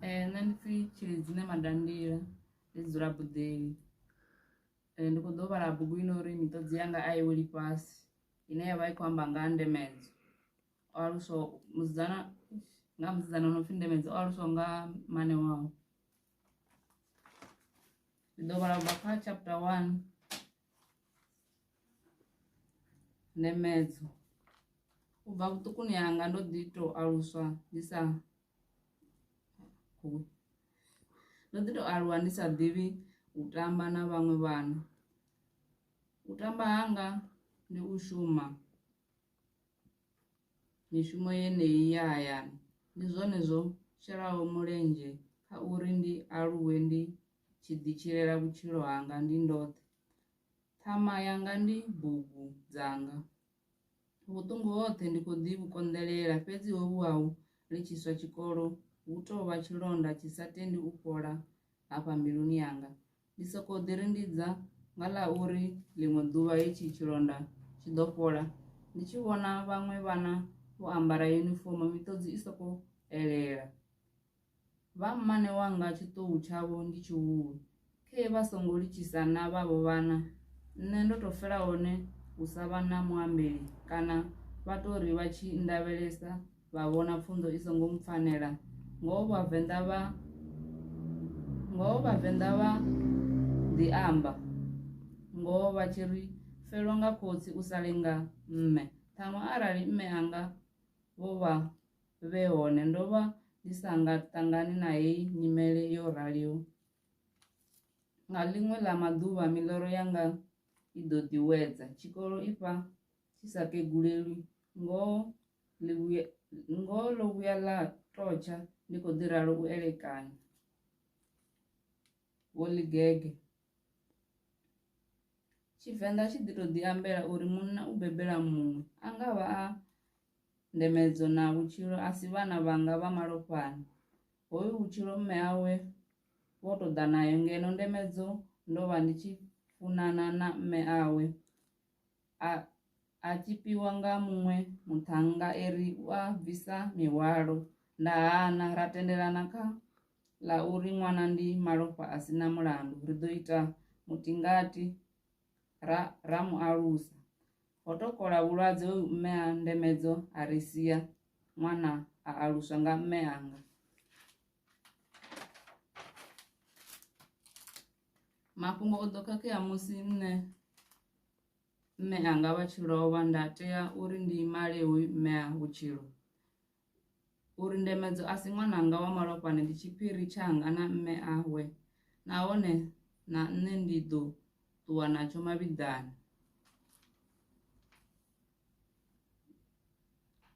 Eh, nṋe ndi pfhi tshili dzine madandila ndi dzi dzula buḓeli eh, ndi kho ḓo vhala bugu ino uri miṱodzi yanga a i weli fhasi ine ya vha i khou amba nga ndemedzo o aluswa musidzana nga musidzana no pfhi ndemedzo o aluswa nga mane wawe ndi ḓo vhala ubva kha chapter one Nemedzo. U bva vhuṱukuni hanga ndo ḓi tou aluswa ndi sa ndo ḓi tou aluwa ndi sa ḓivhi u tamba na vhaṅwe vhana u tamba hanga ndi u shuma mishumo yeneyi ya hayani ndi zwone zwo shelaho mulenzhe kha uri ndi aluwe ndi tshi ḓi tshilela vhutshilo hanga ndi ndoṱhe. Ṱhama yanga ndi bugu dzanga. Vhuṱungu hoṱhe ndi khou ḓi vhu konḓelela fhedzi hovhu hau litshiswa tshikolo hu tou vha tshilonda tshi sa tendi u fhola hafha mbiluni yanga. Ndi sokou ḓi rindidza nga ḽa uri ḽiṅwe ḓuvha hetshi tshilonda tshi ḓo fhola ndi tshi vhona vhaṅwe vhana vho ambara yunifomo miṱodzi i sokou elela. Vha mmane wanga tshiṱuhu tshavho ndi tshihulu, khee vha songo litshisa na vhavho vhana, nṋe ndo tou fela hone hu sa vha na muambeli, kana vha tou ri vha tshi nndavhelesa vha vhona pfunzo i songo mpfanela, ngoho Vhavenḓa vha ngoho Vhavenḓa vha ḓi amba ngoho vha tshi ri felwa nga khotsi u sa lenga mme, ṱhaṅwe arali mme anga vho vha vhe hone, ndo vha ndi sa nga ṱangani na heyi nyimele yo raliho. Nga ḽiṅwe ḽa maḓuvha miḽoro yanga i ḓo ḓiwedza. Tshikolo i fha tshi sa kegulelwi, ngoho ngoho ḽo vhuya ḽa totsha ndi khou ḓi ralo u elekanya. Vho Ḽigege. Tshivenḓa tshi ḓi tou ḓi ambela uri munna u bebela muṅwe, a nga vha a Ndemedzo na vhutshilo a si vhana vhanga vha malofhani. Hoyu vhutshilo mme awe vho tou ḓa nayo ngeno Ndemedzo ndo vha ndi tshi funana na mme awe a a tshipiwa nga muṅwe muṱhannga e ri u a bvisa mihwalo. Nda hana ra tendelana kha ḽa uri ṅwana ndi malofha a si na mulandu, ri ḓo ita mutingati. ra ra mu alusa ho to kola vhulwadze hoyu mme a ndemedzo a ri sia ṅwana a aluswa nga mme anga mafhungo o ḓo khakhea musi nṋe mme anga vha tshi lovha nda tea uri ndi male hoyu mme a vhutshilo uri Ndemedzo a si ṅwananga wa malofhani ndi tshiphiri tshanga na mme awe nahone na nṋe ndi ḓo ṱuwa natsho mavhiḓani.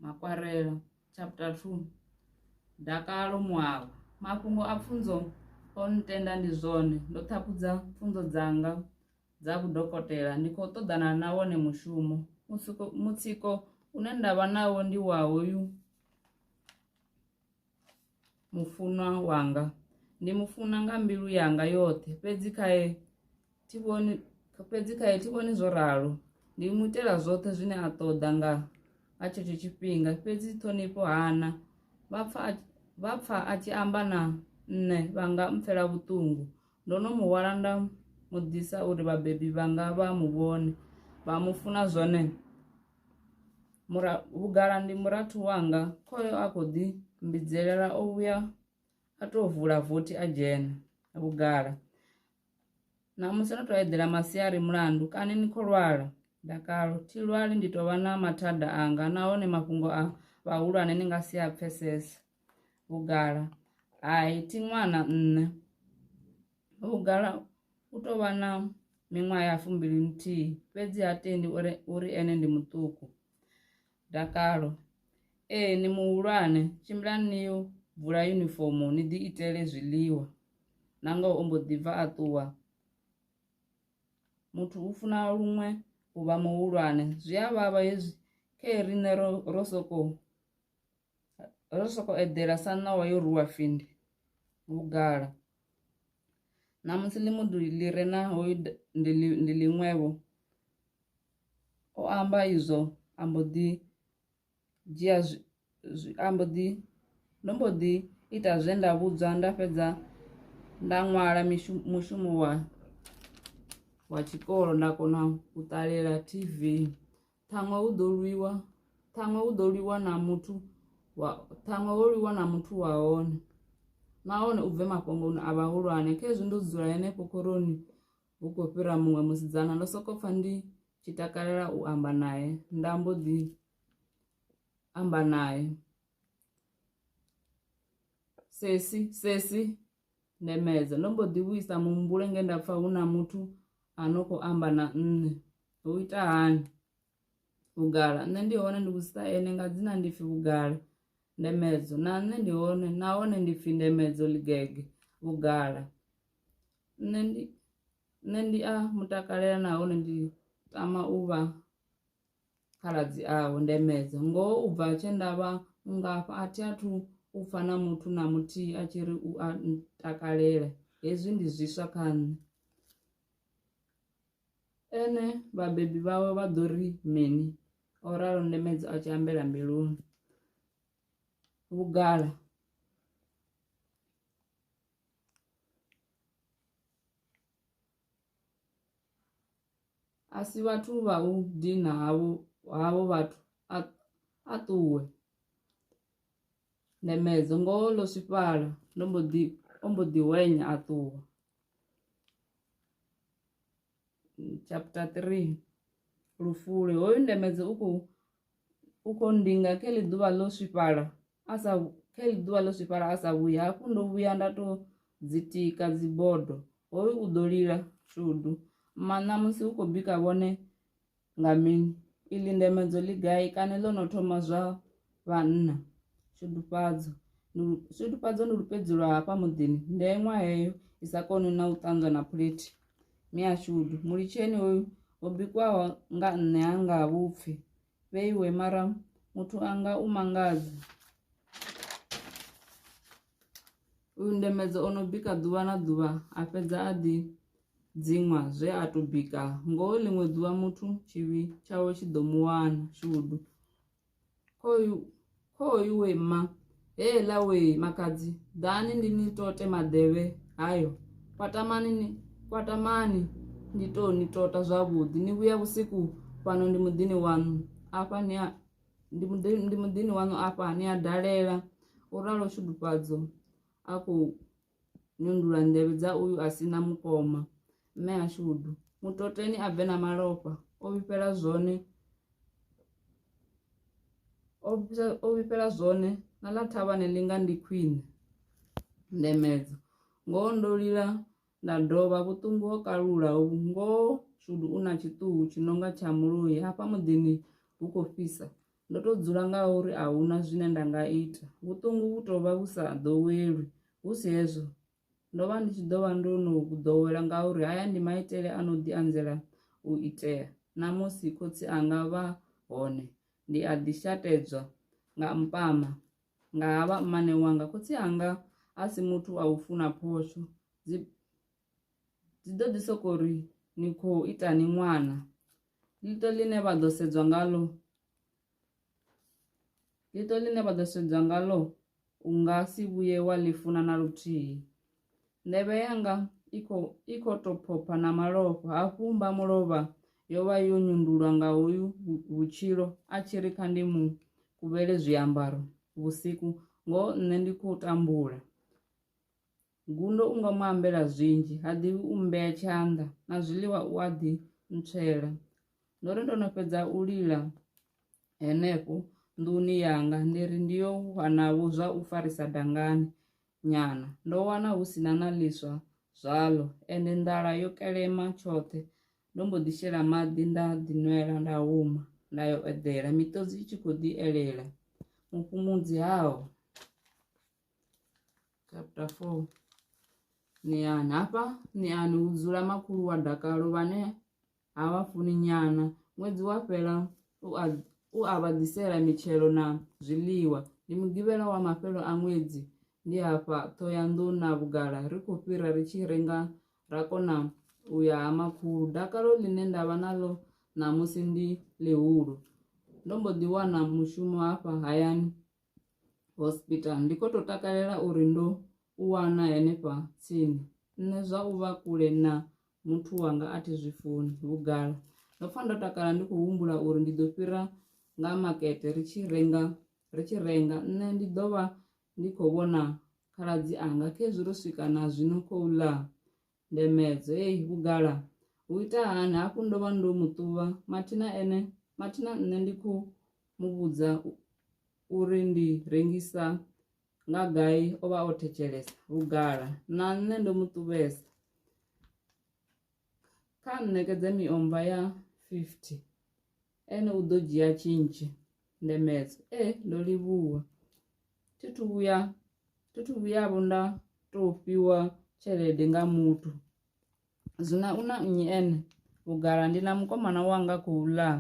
Makwarela chapter 2 Dakalo Moaba Mafhungo a pfunzo o ntenda ndi zwone ndo ṱhaphudza pfunzo dzanga dza vhudokotela ndi khou ṱoḓana na wone mushumo mutsiko mutsiko une ndavha nawo ndi wa hoyu mufunwa wanga ndi mu funa nga mbilu yanga yoṱhe fhedzi khae thi vhoni fhedzi khae thi vhoni zwo ralo ndi mu itela zwoṱhe zwine a ṱoḓa nga nga tshetsho tshifhinga fhedzi ṱhonifho hana vha pfa a tshi amba na nṋe vha nga mpfela vhuṱungu Ndo no mu hwala nda mu ḓisa uri vhabebi vhanga vha mu vhone, vha mu funa zwone. Mura, vhugala ndi murathu wanga, khoyo a khou ḓi mbidzelela o vhuya a tou vula vothi a dzhena. Vhugala, ṋamusi no tou eḓela masiari mulandu kani ni khou lwala? Dakalo, thi lwali ndi tou vha na mathada anga nahone mafhungo a vhahulwane ni nga si a pfesese. vhugala hai thi ṅwana nṋe vhugala u tou vha na miṅwaha ya fumbili nthihi fhedzi ha tendi uri uri ene ndi muṱuku dakalo ee ni muhulwane tshimbilani ni yo bvula yunifomo ni ḓi itele zwiḽiwa na ngoho o mbo ḓi bva a ṱuwa muthu u funa luṅwe u vha muhulwane zwi a vhavha hezwi khe riṋe ro ro soko ro soko eḓela sa ṋawa yo ruwa findi vhugala ṋamusi ḽimuḓu ḽi re na hoyu ndi ḽiṅwevho o amba izwo a mbo ḓi dzhia a mbo ḓi ndo mbo ḓi ita zwe nda vhudzwa nda fhedza nda ṅwala mushumo wa wa tshikolo nda kona u ṱalela tv Ṱhaṅwe hu ḓo lwiwa, ṱhaṅwe hu ḓo lwiwa na muthu wa ṱhaṅwe ho lwiwa na muthu wa hone nahone u bve mafhongoni a vhahulwane khezwi ndo dzula henefho khoroni hu khou fhira muṅwe musidzana ndo sokou pfha ndi tshi takalela u amba naye nda mbo ḓi amba naye sesi sesi Ndemedza. Ndo mbo ḓi vhuisa muhumbulo nge nda pfa hu na muthu a no khou amba na nṋe. Ho ita hani? Vhugala. Nṋe ndi hone ndi vhudzisa ene nga dzina ndi pfi Vhugala. Ndemedzo. Na nṋe ndi hone nahone ndi pfi Ndemedzo Ligege. Vhugala. Nṋe ndi nṋe ndi a mutakalela nahone ndi tama u vha khaladzi awe Ndemedze, ngoho u bva tshe nda vha mungafha a thi athu u pfa na muthu na muthihi a tshi ri u a ntakalela. Hezwi ndi zwiswa kha nṋe. Ene vhabebi vhawe vha ḓo ri mini? o ralo Ndemedze a tshi ambela mbiluni. Vhugala. a si vhathu vha u dina havho havho vhathu a, a ṱuwe ndemedzo ngoho ḽo swifhala ndo mbo ḓi o mbo ḓi wenya a ṱuwa chapter 3 lufule hoyu ndemedze u khou u khou ndinga khe ḽi ḓuvha ḽo swifhala a sa khe ḽi ḓuvha ḽo swifhala a sa vhuyi hafhu ndo vhuya nda tou dzitika dzibodo hoyu u ḓo lila shudu maṋa musi u khou bika vhone nga mini iḽi ndemedzo ḽi gai kana ḽo no thoma zwa vhanna shudufhadzo shudufhadzo ndi lupedzi lwa hafha muḓini ndeṅwa heyo i sa koni na u ṱanzwa na phulethi Miashudu, mulitsheni hoyu ho bikwaho nga nṋe ha nga vhupfi vheiwe mara muthu anga u mangadza uyu ndemedza o no bika ḓuvha na ḓuvha a fhedza a ḓi dziṅwa zwe a to bika ngoho ḽiṅwe ḓuvha muthu tshivhi tshawe tshi ḓo mu wana shudu Khoyu, khoyu we mma, heeḽa we makadzi, ḓani ndi ni tote maḓevhe hayo. Kwatamani ni, kwatamani ndi tou ni tota zwavhuḓi. Ni vhuya vhusiku fhano ndi muḓini waṋu afha ni a ndi muḓi ndi muḓini waṋu afha ni a dalela, u ralo Tshudufhadzo a khou Nyundula nḓevhe dza uyu a si na mukoma mme a shudu mutoteni a bve na malofha o vhifhela zwone o vhifhela zwone na ḽa thavhani ḽi nga ndi khwine ndemedza ngoho ndo lila nda dovha vhuṱungu ho kalula ngoho shudu u na tshiṱuhu tshi nonga tsha muloi hafha muḓini hu khou fhisa. Ndo tou dzula ngauri a hu na zwine nda nga ita. Vhuṱungu vhu tou vha vhu sa ḓowelwi. Hu si hezwo, ndo vha ndi tshi ḓo vha ndo no vhu ḓowela ngauri haya ndi maitele a no ḓi anzela u itea. Na musi khotsi anga vha hone, ndi a ḓi shatedzwa nga mpama nga ha vha mmane wanga. Khotsi anga a si muthu wa u funa phosho. Dzi, dzi ḓo ḓi sokou ri, Ni khou itani ṅwana? ḽiṱo ḽine vha ḓo sedzwa ngalo ḽiṱo ḽine vha ḓo sedzwa ngalo u nga si vhuye wa ḽi funa na luthihi nḓevhe yanga i khou i khou tou phopha na malofha hafhu mba mulovha yo vha yo nyundulwa nga hoyu vhutshilo a tshi ri kha ndi mu kuvhele zwiambaro vhusiku ngoho nṋe ndi khou tambula Gundo u nga mu ambela zwinzhi, ha ḓivhi u mmbea tshanḓa, na zwiḽiwa u a ḓi ntswela. Ndo ri ndo no fhedza u lila henefho nḓuni yanga ndi ri ndi yo wanavho zwa u farisa dangani nyana, ndo wana hu si na na ḽiswa zwaḽo, ende nḓala yo kelema tshoṱhe. Ndo mbo ḓi shela maḓi nda ḓinwela nda huma nda yo eḓela, miṱodzi i tshi khou ḓi elela mufhumudzi hao. chapter 4 niyani hafha niyani hu dzula makhulu wa dakalo vhane ha vha funi nyana ṅwedzi wa fhela u a vha ḓisela mitshelo na zwiḽiwa ndi mugivhela wa mafhelo a ṅwedzi ndi hafha ṱhoyanḓou na vhugala ri khou fhira ri tshi renga ra kona u ya ha makhulu dakalo ḽine nda vha naḽo ṋamusi ndi ḽihulu ndo mbo ḓi wana mushumo hafha hayani hospital ndi kho to takalela uri ndo u wana henefha tsini nṋe zwa u vha kule na muthu wanga a thi zwi funi vhugala ndo pfha ndo takala ndi khou humbula uri ndi ḓo fhira nga makete ri tshi renga ri tshi renga nṋe ndi ḓo vha ndi khou vhona khaladzi anga khezwi ro swika na zwino khou ḽa Ndemedzo, Ey, vhugala! U ita hani? Hafhu ndo vha ndo mu ṱuvha mathina ene mathina nṋe ndi khou mu vhudza uri ndi rengisa nga gai o vha o thetshelesa. Vhugala, Na nṋe ndo mu ṱuvhesa. Kha nṋekedze miomva ya 50 ene u ḓo dzhia tshintshi. Ndemedzo, Ee, ndo livhuwa. thi thu vhuya thi thu vhuyavho nda to fhiwa tshelede nga muthu zwino u na nnyi ene vhugala ndi na mukomana wanga khou ḽa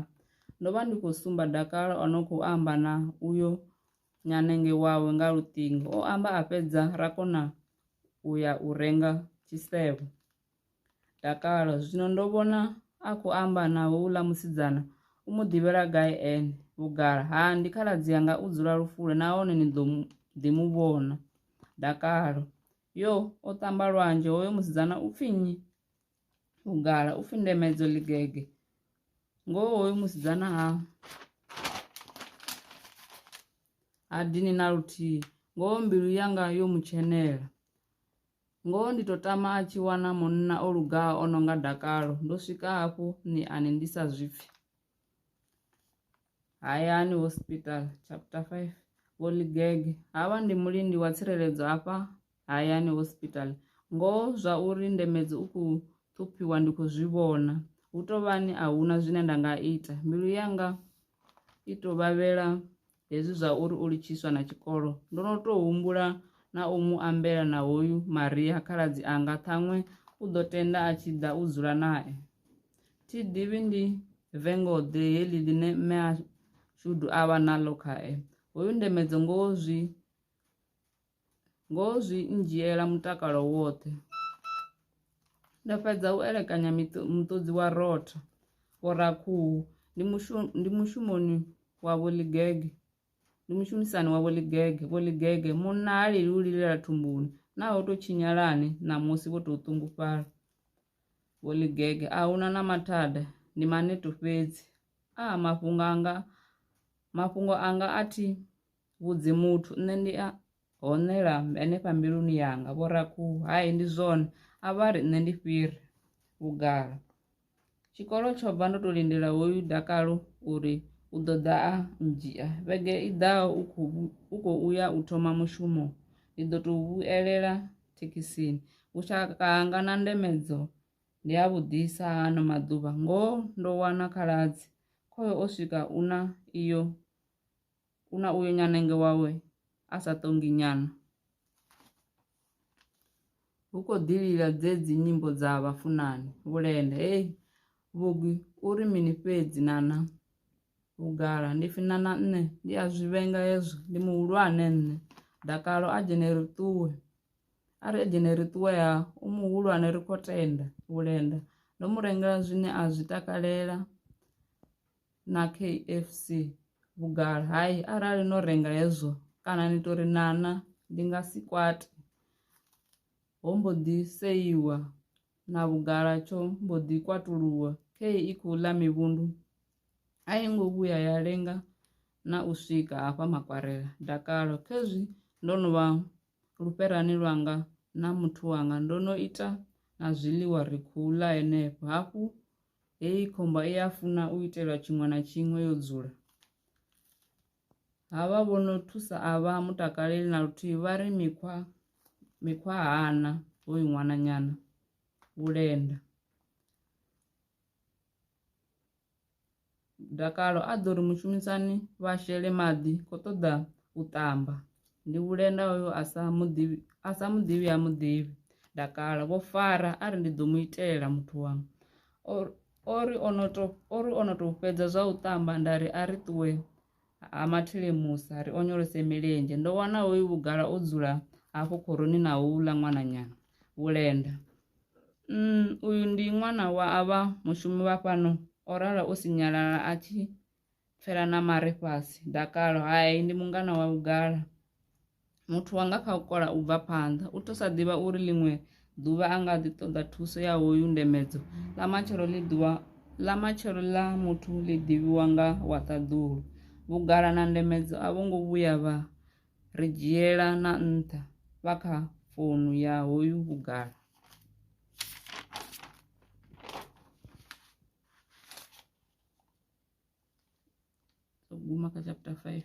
ndo vha ndi khou sumba dakalo o no khou amba na uyo nyanenge wawe nga luṱingo o amba a fhedza ra kona u ya u renga tshisevho. Dakalo, zwino ndo vhona a khou amba na houḽa musidzana, u mu ḓivhela gai ene? Vhugala, ha, ndi khaladzi anga u dzula Lufule nahone ni ḓo ḓi mu vhona. Dakalo, yo, o ṱamba lwanzhe hoyo musidzana u pfi nnyi? Vhugala, u pfi Ndemedzo Ḽigege. Ngoho hoyo musidzana ha ha dini na luthihi ngoho mbilu yanga yo mu tshenela Ngoho ndi to tama a tshi wana munna o lugaho o no nga dakalo ndo swika hafhu ni ani ndi sa zwi pfhi hayani hospital chapter 5 vho ligege havha ndi mulindi wa tsireledzo hafha hayani hospital ngoho zwa uri ndemedzi u khou ṱhuphiwa ndi khou zwi vhona hu tovhani a huna zwine nda nga ita mbilu yanga i to vhavhela Hezwi zwa uri o litshiswa na tshikolo, ndo no tou humbula na u mu ambela na hoyu Maria khaladzi anga ṱhaṅwe u ḓo tenda a tshi ḓa u dzula nae. Thi ḓivhi ndi vengo-ḓe heḽi ḽine mme a Shudu a vha naḽo khae. Hoyu Ndemedzo ngoho zwi ngoho zwi ndzhiela mutakalo woṱhe. Ndo fhedza u elekanya muṱodzi wa rotho, vhorakhuhu ndi mushumo ndi mushumoni wa vho Ḽigege ndi mushumisani wa vho Ḽigege, vho Ḽigege munna ha lili u lilela thumbuni naa ho tou tshinyalani ṋamusi vho tou ṱungufhala, vho Ḽigege a huna na mathada ndi maneto fhedzi aa mafhungo anga mafhungo anga a thi. vhudzi muthu nṋe ndi a honela henefha mbiluni yanga vho rakhuhu hai ndi zwone a vha ri nṋe ndi fhiri vhugala tshikolo tsho bva ndo to lindela hoyu dakalo uri u ḓo ḓa a ndzhia vhege i ḓaho u khou uya u thoma mushumo ndi ḓo tou vhuelela thekhisini vhushaka hanga na ndemedzo ndi a vhuḓisa hano maḓuvha ngoho ndo wana khaladzi khoyo o swika u na iyo Kuna uyo nyanenge wawe a sa ṱongi nyana. Hu khou ḓi lila dzedzi nyimbo dza vhafunani vhulenda hey vhugwi uri mini fhedzi nana vhugala ndi fina na nṋe ndi a zwi vhenga hezwo ndi muhulwane nṋe dakalo a dzhene ri ṱuwe a ri dzhene ri ṱuwe ha u muhulwane ri khou tenda vhulenda ndo mu rengela zwine a zwi takalela na KFC vhugala hai arali no renga hezwo kana ni tori nana ndi nga si kwate ho mbo ḓi seiwa na vhugala tsho mbo ḓi kwatuluwa khe i khou ḽa mivhundu a i ngo vhuya ya lenga na u swika hafha makwarela dakalo khezwi ndo no vha lufherani lwanga na muthu wanga ndo no ita na zwiḽiwa ri khou ḽa henefho hafhu Heyi khomba i a funa u itelwa tshiṅwe na tshiṅwe yo dzula. Havha vho no thusa a vha mutakaleli na luthihi vha ri mikhwa mikhwa hana hoyu ṅwananyana vhulenda. Dakalo a ḓo ri mushumisani vha shele maḓi kho ṱoḓa u ṱamba ndi vhulenda hoyo a sa muḓivhi a sa muḓivhi ha muḓivhi dakalo vho fara a ri ndi ḓo mu itela muthu wanga ori ono to ori ono to fhedza zwa u ṱamba nda ri a ri ṱuwe. Ha mathile musa ri onyolose milenzhe ndo wana hoyu vhugala o dzula hafho khoroni na houḽa ṅwananyana vhulenda mm, uyu ndi ṅwana wa avha mushumi vha fhano o rala o sinyalala a tshi pfela na mare fhasi dakalo hai ndi mungana wa vhugala Muthu wa nga kha u kola u bva phanḓa u tou sa ḓivha uri ḽiṅwe ḓuvha a nga ḓi ṱoḓa thuso ya hoyu ndemedzo. Ḽa matshelo ḽi ḓuvha ḽa matshelo ḽa muthu ḽi ḓivhiwa nga wa ṱaḓulu. Vhugala na ndemedzo a vho ngo vhuya vha ri dzhiela na nṱha vha kha founu ya hoyu vhugala. guma kha chapter 5